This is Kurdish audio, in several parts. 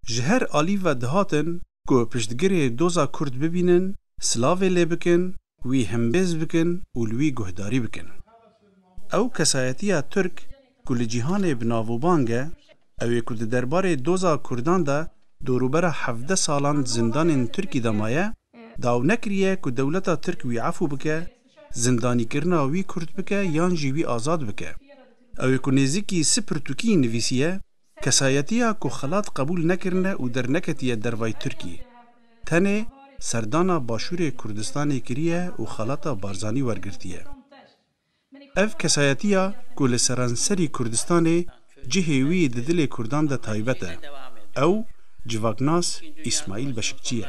Ji her alî ve dihatin ku piştgirê doza Kurd bibînin, silavê lê bikin, wî himbêz bikin û li wî guhdarî bikin. Ew kesayetiya Tirk ku li cîhanê bi navûbang e, ew ê ku di derbarê doza Kurdan de dorûbera hevdeh salan di zindanên Tirkî de maye, daw nekiriye ku dewleta Tirk wî efû bike, zindanîkirina wî kurt bike yan jî wî azad bike. Ew ê ku nêzîkî sî pirtûkî nivîsiye, Kesayetiya ku xelat qebûl nekirine û derneketiye dervayî Tirkiyê, tenê serdana Başûrê Kurdistanê kiriye û xelata Barzanî wergirtiye. Ev kesayetiya ku li seranserî Kurdistanê cihê wî di dilê Kurdan de taybet e, ew civaknas Îsmaîl Beşikçî ye.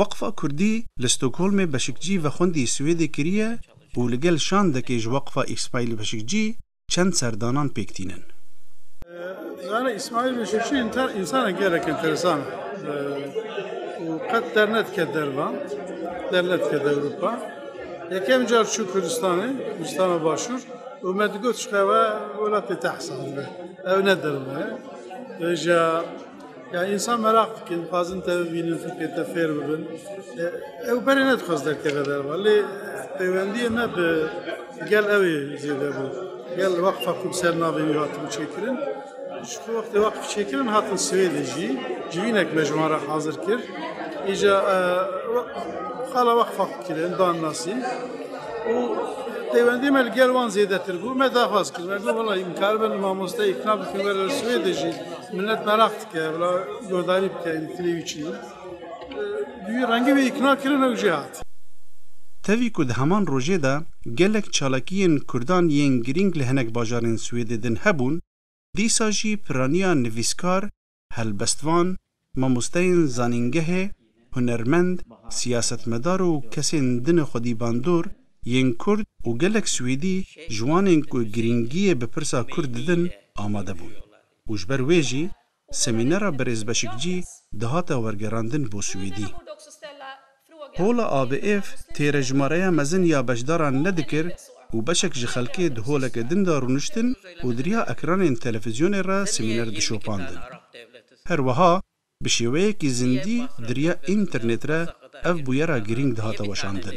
Weqfa Kurdî li Stockholmê beşikcî vexwendî Swêdê kiriye û li gel şandekê ji Weqfa Îsmaîl Beşikcî çend serdanan pêk tînin. Zana Îsmaîl Beşikcî însanek gelek enteresan û qet dernedike derve, dernedike Ewropa. Yekem car çû Kurdistanê, Kurdistana Başûr û me digot ji xwe ew welatê te hesab dibe, ew ne derve ye. Rêjeya. Yani insan merak dikin, dixwazin te bibînin, fikê te fêr bibin. E, ew berê nedixwaz derkeve derva. Lê peywendiyê me bi gel ew ê zêde bû. Gel waqfa ku bi ser navê wî hatin çêkirin. Ji ku wextê waqf çêkirin hatin Swêdê jî. Civînek me ji wan re hazir kir. Îja e, we- xala waqfa xwe kirin, dan nasîn. û peywendiyê me li gel wan zêdetir bû. Me daxwaz kir. Me got valla îmkar bin mamosteyê ikna bikin were li Swêdê jî. Millet merak dike, bila guhdarî bike em tilê wî çi ye. Duyî rengê wî îkna kirin ew jê hat. Tevî ku di heman rojê de gelek çalakiyên Kurdan yên girîng li hinek bajarên Swêdê din hebûn, dîsa jî piraniya nivîskar, helbestvan, Mamosteyên zanîngehê, hunermend, siyasetmedar û kesên din xwedî bandor yên Kurd û gelek Swêdî ji wan ên ku girîngiyê bi pirsa Kurd didin amade bûn û ji ber wê jî semînera Birêz Beşikcî dihate wergerandin bo Swêdî. Hola ABF têre jimareya mezin ya beşdaran nedikir û beşek ji xelkê di holeke din de rûniştin û di riya ekranên televîzyonê re semîner dişopandin. Her wiha bi şêweyekî zindî di riya înternêt re ev bûyera girîng dihate weşandin.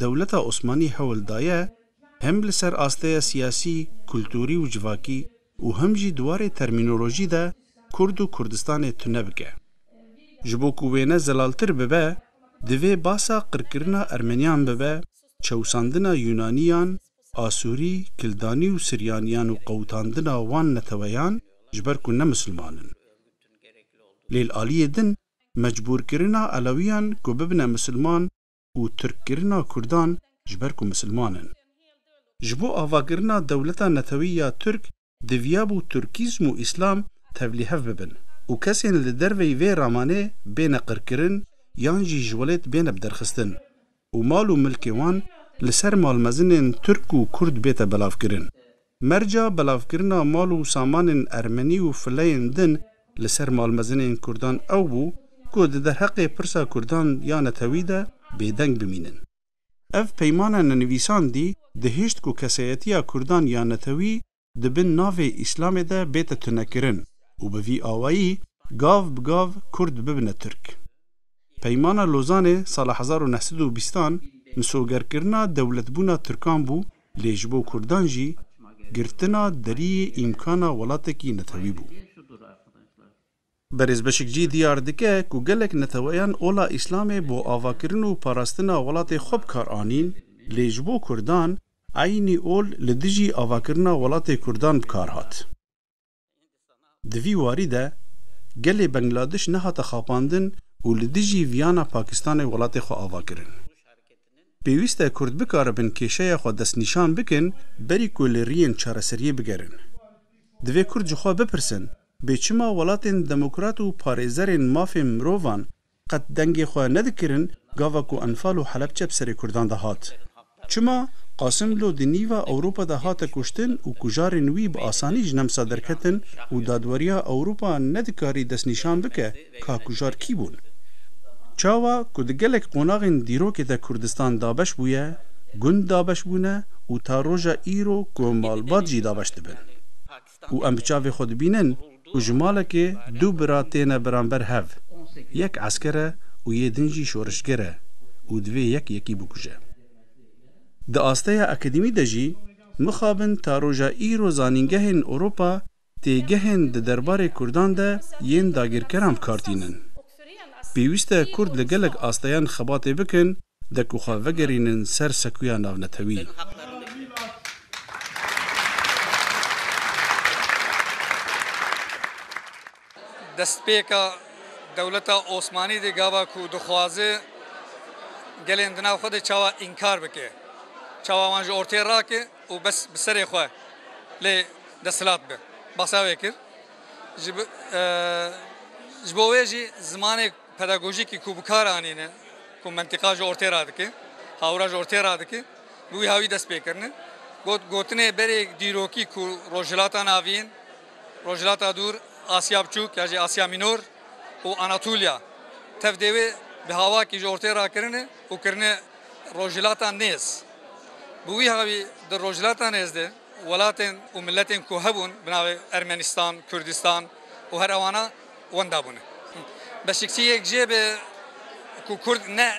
Dewleta Osmanî hewl daye hem li ser asteya siyasî, kulturî û civakî û hem jî di warê termînolojî de Kurd û Kurdistanê tune bike. Ji bo ku wêne zelaltir bibe, divê basa qirkirina Ermeniyan bibe çewsandina Yûnaniyan, Asûrî, Kildanî û Siryaniyan û qewitandina wan neteweyan ji ber ku ne misilman in. Lê li aliyê din mecbûrkirina Elewiyan ku bibine misilman û tirkkirina kurdan ji ber ku misilman in. Ji bo avakirina dewleta netewî ya tirk diviyabû tirkîzm û îslam tevlî hev bibin û kesên li derveyî vê ramanê bêne qirkirin yan jî ji welêt bêne biderxistin û mal û milkê wan li ser malmezinên tirk û kurd bête belavkirin. Merca belavkirina mal û samanên ermenî û fileyên din li ser malmezinên kurdan ew bû ku di derheqê pirsa kurdan ya netewî de bêdeng bimînin. Ev peymana nenivîsandî dihişt ku kesayetiya kurdan ya netewî di bin navê Îslamê de bête tunekirin û bi vî awayî gav bi gav kurd bibine tirk. Peymana Lozanê sala hezar û neh sed û bîstan misogerkirina dewletbûna tirkan bû Lê ji bo kurdan jî girtina deriyê îmkana welatekî netewî bû. Berêz Beşikcî diyar dike ku gelek neteweyan ola Îslamê bo avakirin û parastina welatê xwe bi kar anîn, lê ji bo kurdan eynî ol li dijî avakirina welatê kurdan bi kar hat. Di vî warî de gelê Bengladîş nehate xapandin û li dijî viyana Pakistanê welatê xwe ava kirin. Pêwîst e Kurd bikaribin kêşeya xwe destnîşan bikin berî ku li riyên çareseriyê bigerin. Divê Kurd ji xwe bipirsin, bê çima welatên demokrat û parêzerên mafên mirovan Qet dengê xwe nedikirin gava ku Enfal û Helepçe bi serê Kurdan de hat. Çima Qasimlo di nîva Ewropa de hate kuştin û kujarên wî bi asanî ji Nemsa derketin û dadweriya Ewropa nedikarî destnîşan bike ka kujar kî bûn. Çawa ku di gelek qonaxên dîrokê de Kurdistan dabeş bûye, gund dabeş bûne û ta roja îro ku malbat jî dabeş dibin. û em bi çavê xwe dibînin ku ji malekê du bira têne beramber hev. Yek esker e û yê din jî şorişger e û divê yek yekî bikuje. Di asteya akademî de jî mixabin ta roja îro zanîngehên Ewropa têgehên di derbarê kurdan de yên dagirkeran bikar tînin. Pêwîste kurd li gelek asteyan xebatê bikin De ku xwe vegerînin ser sekuya navnetewî. Destpêka dewleta Osmanî de gava ku dixwaze gelên di nav xwe de çawa înkar bike, çawa wan ji ortê rake û bes bi serê xwe lê desthilat be. Basa wê kir. Ji bo wê jî zimanê. Pedagojîkî ku bi kar anîne, ku mentiqa ji ortê re dike, hawra ji ortê re dike, bi wî hawî dest pê kirine. Got, Gotinê berê dîrokî ku Rojhilata Navîn yên, Rojhilata Dûr, Asya Biçûk ya jî Asya Mînor û Anatolya tev dê wê bi havakî ji ortê re kirine û kirine Rojhilata Nêz. Bi wî hawî di Rojhilata Nêz de welatên û miletên ku hebûn bi navê Ermenistan, Kurdistan û her ewana, wenda bûne. Beşikçiyêk jê be ku Kurd ne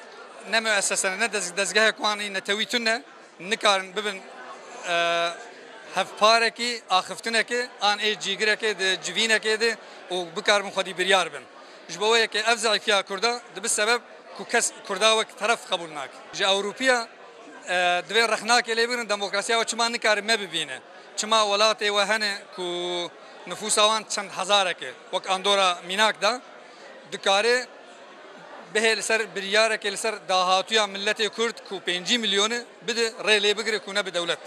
ne muessese ne dezgehek wan î netewî tune nikarin bibin hevparekî axiftinekê an ê cîgirekê di civînekê de û bikaribin xwedî biryar bin. Ji bo wê yekê ev zeîfiya Kurda dibi sebeb ku kes Kurda wek teref qebûl nake. Ji Ewropiya divê rexnakê lê bigrin demokrasiya we çima nikare me bibîne? Çima welatê we hene ku Nifûsa wan çend hezarek e. Wek Andora mînak de dikare bihê li ser biryarekê li ser dahatuya miletê Kurd ku pêncî milyon e bide rê lê bigire ku nebe dewlet.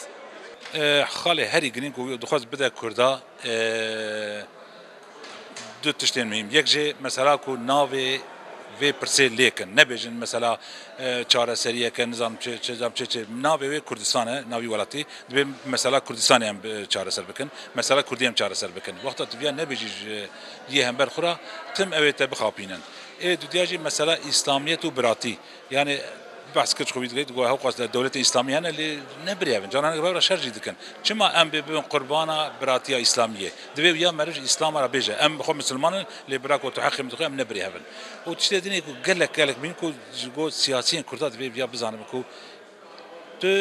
Xalê herî girîng ku wî dixwest bide Kurda du tiştên muhîm. Yek jî mesela ku navê vê pirsê lêkin nebêjin mesela. Çareseriyeke nizanim çi çi zam çi çi navê wê Kurdistan e, navî welatî. Dibê mesela Kurdistanê em çareser bikin. Mesela Kurdî em çareser bikin. Wexta tu viya nebêjî ji yê hember xwe ra tim ew ê te bixapînin. Ê dudya jî mesela îslamiyet û biratî. Yanî behs kir ji xwe wî digihît got hew qas dewletên îslamî hene lê ne birêv in. Caran hinek bi hev re şer jî dikin. Çima em bê bibin qurbana biratiya îslamiyê? Divê uya merij îslama re bêje em bi xwe misilman in lê bira ku tu heqê min dixwe em ne birêhev in. Û tiştê din e ku gelek gelek mîn ku ji bo siyasiyên kurda divê uya bizanibe ku tu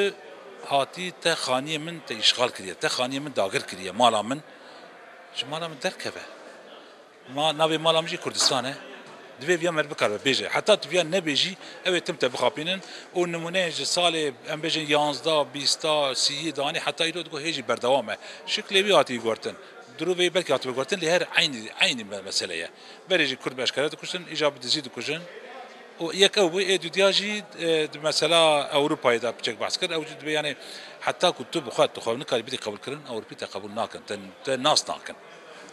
hatî te xaniyê min te îşxal kiriye, te xaniyê min dagir kiriye mala min ji mala min derkeve. Ma navê mala min jî Kurdistan e. Divê viya merv bikare bêje. Heta tu viya nebê jî ew ê tim te bixapînin û nimûneyên ji salê em bêjin yanzda, bîsta, sîyî de anî heta îro digo hê jî berdewam e. Şiklê wî hatî guhertin. Dirûvê belkî hatibe guhertin lê her eynî eynî mesele ye. Berê jî Kurd bi eşkere dikuştin, îja bi dizî dikujin û yek ew bû. Ê dûdiya jî di mesela Ewropayê de piçek behs kir. Ew jî dibê yanê heta ku tu bi xwe tu xwe nikarî bidî qebûlkirin, Ewropî te qebûl nakin, te nas nakin.